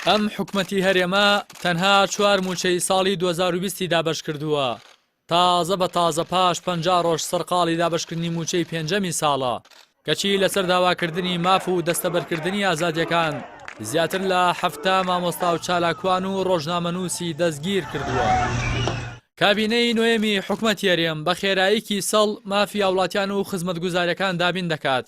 ئەم حکومەتی هەرێمە تەنها چوار مووچەی ساڵی دوو هەزار و بیست ی دابەشکردووە، تازە بە تازە پاش پەنجا ڕۆژ سەرقاڵی دابەشکردنی مووچەی پێنجەمی ساڵە، کەچی لەسەر داواکردنی ماف و دەستەبەرکردنی ئازادییەکان زیاتر لە حەفتا مامۆستا و چالاکوان و ڕۆژنامەنووسی دەستگیرکردووە. کابینەی نۆیەمی حکومەتی هەرێم بە خێراییکی سەڵ مافی هاوڵاتیان و خزمەتگوزارییەکان دابین دەکات،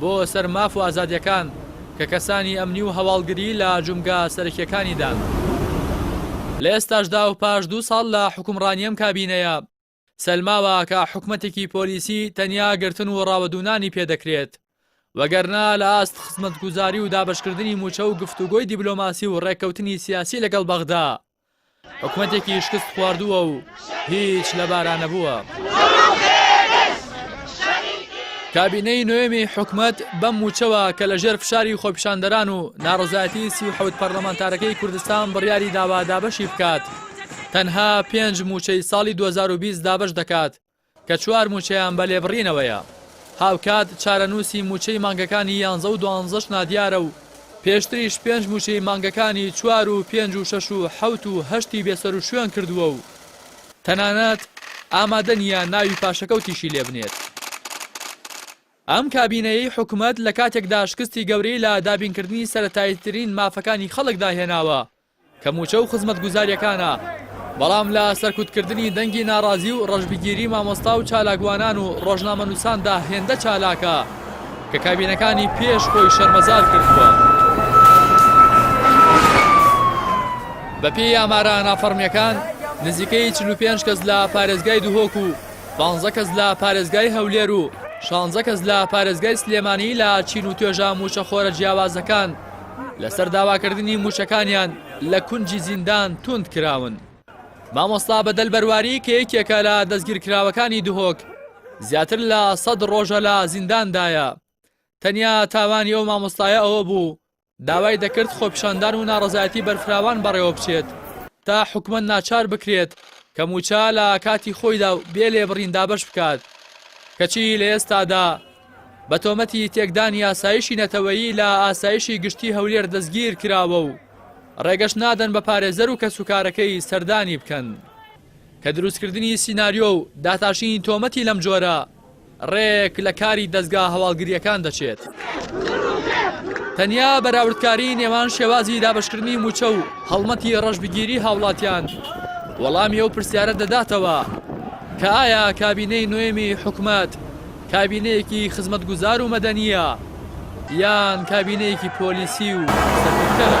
بۆ سەر ماف و ئازادیەکان کە کەسانی ئەمنی و هەواڵگری لە جومگە سەرەکیەکانی دان. لە ئێستاشدا و پاش دوو ساڵ لە حوکمڕانی ئەم کابینەیە، سەلماوە کە حکومەتێکی پۆلیسی تەنیا گرتن و ڕاوەدوونانی پێ دەکرێت، وەگەرنا لە ئاست خزمەتگوزاری و دابەشکردنی موچە و گفتوگۆی دیبلۆماسی و ڕێککەوتنی سیاسی لەگەڵ بەغدا، حکومەتێکی شکست خواردووە و هیچ لەبارا نەبووە. کابینەی نوێمی حکومت بەم موچەوە کە لە ژێر فشاری خۆپیشاندەران و ناڕزایەتی سی و حەوت پەرلەمانتارەکەی کوردستان بڕیاری داوا دابەشی بکات تەنها پێنج موچەی ساڵی 2020 دابش دەکات کە چوار مووچەیان بە لێبڕینەوەیە، هاوکات چارەنووسی مووچەی مانگەکانی یانزە و دوانزەش نادیارە و پێشتریش پێنج مووچەی مانگەکانی چوار و پێنج و شەش و حەوت و هەشتی بێسەروشوێن کردووە و تەنانەت ئامادە نییە ناوی پاشەکەوتیشی لێبنێت. ئەم کابینەیەی حکومەت لە کاتێکدا شکستی گەورەی لە دابینکردنی سەرەتاییترین مافەکانی خەڵکدا هێناوە، کە مووچە و خزمەتگوزاریەکانە، بەڵام لە سەرکوتکردنی دەنگی ناڕازی و ڕەشبگیری مامۆستا و چالاکوانان و ڕۆژنامەنووساندا هێندە چالاکە، کە کابینەکانی پێش خۆی شەرمەزار کردووە. بەپێی ئامارە نافەڕمیەکان، نزیکەی چل و پێنج کەس لە پارێزگای دهۆک و پانزە کەس لە پارێزگای هەولێر و شانزە کەس لە پارێزگای سلێمانی لە چین و توێژە مووچەخۆرە جیاوازەکان لەسەر داواکردنی مووچەکانیان لە کونجی زیندان توند کراون. مامۆستا بەدەل بەرواری کە یەکێکە لە دەستگیرکراوەکانی دهۆک، زیاتر لە سەد ڕۆژە لە زینداندایە. تەنیا تاوانی ئەو مامۆستایە ئەوە بوو داوای دەکرد خۆپیشاندان و ناڕەزایەتی بەرفراوان بەڕێوەبچێت تا حکومەت ناچار بکرێت کە مووچە لە کاتی خۆیدا و بێ لێبڕین دابەش بکات، کەچی لە ئێستادا، بە تۆمەتی تێکدانی ئاسایشی نەتەوەیی لە ئاسایشی گشتی هەولێر دەستگیر کراوە و ڕێگەش نادەن بە پارێزەر و کەسوکارەکەی سەردانی بکەن کە دروستکردنی سیناریۆ و داتاشینی تۆمەتی لەم جۆرە ڕێک لە کاری دەزگا هەواڵگرییەکان دەچێت. تەنیا بەراوردکاری نێوان شێوازی دابشکردنی موچە و هەڵمەتی ڕەشبگیری هاوڵاتیان وەڵامی ئەو پرسیارە دەداتەوە کە ئایا کابینەی نۆێمی حکومەت کابینەیەکی خزمەتگوزار و مەدەنییە یان کابینەیەکی پۆلیسی و سەرکوتکەرە؟